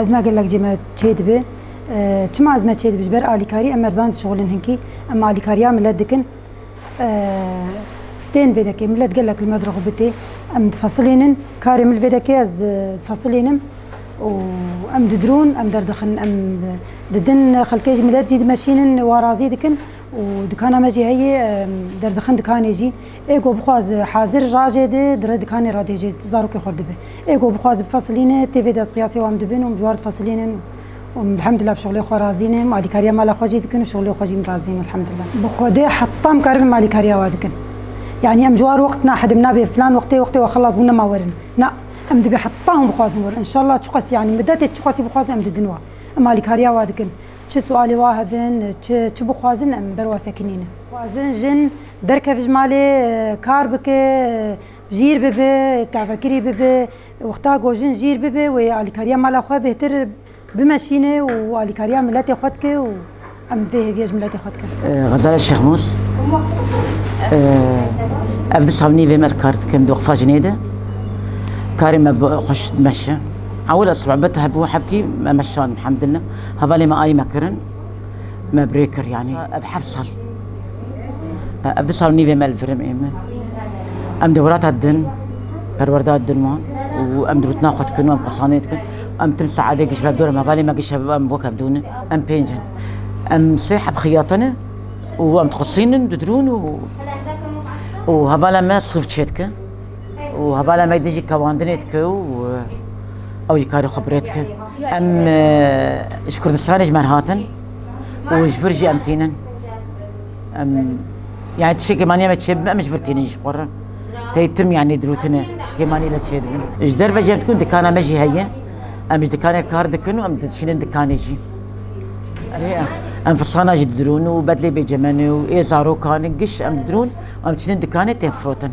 Ez me gelek cê me çêdibe. Çima ez me çêdibe? Ji ber alîkarî em erzan dişixulin hinkî. Em alîkariya milet dikin. Tên vê dekê milet gelek li me dirxu bitê. Em difisilênin. Karê min vê dekê ez difisilênim. û em didirûn, em derdixin, em didin xelkê jî milet jî dimeşînin, warazî dikin û dikana me jî heye derdixin dikanê jî. Ê ku bixwaz hazir rajê di dire dikanê re dê jê zarokê xwe dibe. Ê ku bixwaz bi fesilîne tê vê destqiyasê wan dibin û bi civard fesilînin û min elhemdullah bi şixulê xwe razînin, alîkariya mala xwe jî dikin û şixulê xwe jî min razînin elhemdullah. Bi xwedê heta em karibin min alîkariya we dikin. Yanî em ciwar wext naxedin nabê filan wextê wextê we xilas bû nema werin. Na, em dibê heta hûn bixwazin werin. Înşallah çiqas yanî midetê çiqasî bixwazin em didin we. Em alîkariya we dikin. Çi sualê wa hebin, çi çi bixwazin em ber wa sekinînin. Xwazin jin derkeve ji malê, kar bike, jîr bibe, tavekirî bibe. Wexta ku jin jîr bibe wê alîkariya mala xwe bêhtir bimeşîne û alîkariya miletê xwe dike û em vê hêviya ji miletê xwe dikin. Xezaya Şêxmûs, Ev du sal nîvê me kar dikim di weqfa jinê de. Karê me xweş dimeşe. Ewil e sibebet hebû hebkî me meşand elhamdulillah. Hevalê me ayî me kirin, me birê kir yanî ev heft sal. Ev du sal nîvê me li virim ê min. Em di wirata din, perwerda din wan û em dirûtina xwe dikin û em qisanê dikin. Em tim saedê giş bevdor em hevalê me giş em wek hevdûnin. Em pênc in. Em sê heb xiyatine û em diqisînin di dirûn û û hevala me sif çêdike. û hevala me dijî kewandinê dike û ew jî karê xwe birêt kir. Em ji Kurdistanê ji me hatin û ji vir jî em tînin. Em yani tişekê maniye me çêbim em ji vir tînin ji xwe re. Tey tim yani dirûtine kêmanî le çê dibin. Ji derve jî em dikun dikana me jî heye. Em ji dikanê kar dikin û em dişînin dikanê jî. Em firsana jî didirûn û bedlê bêcemenê û ê zarokan giş em didirûn em çinin dikanê tên firotin.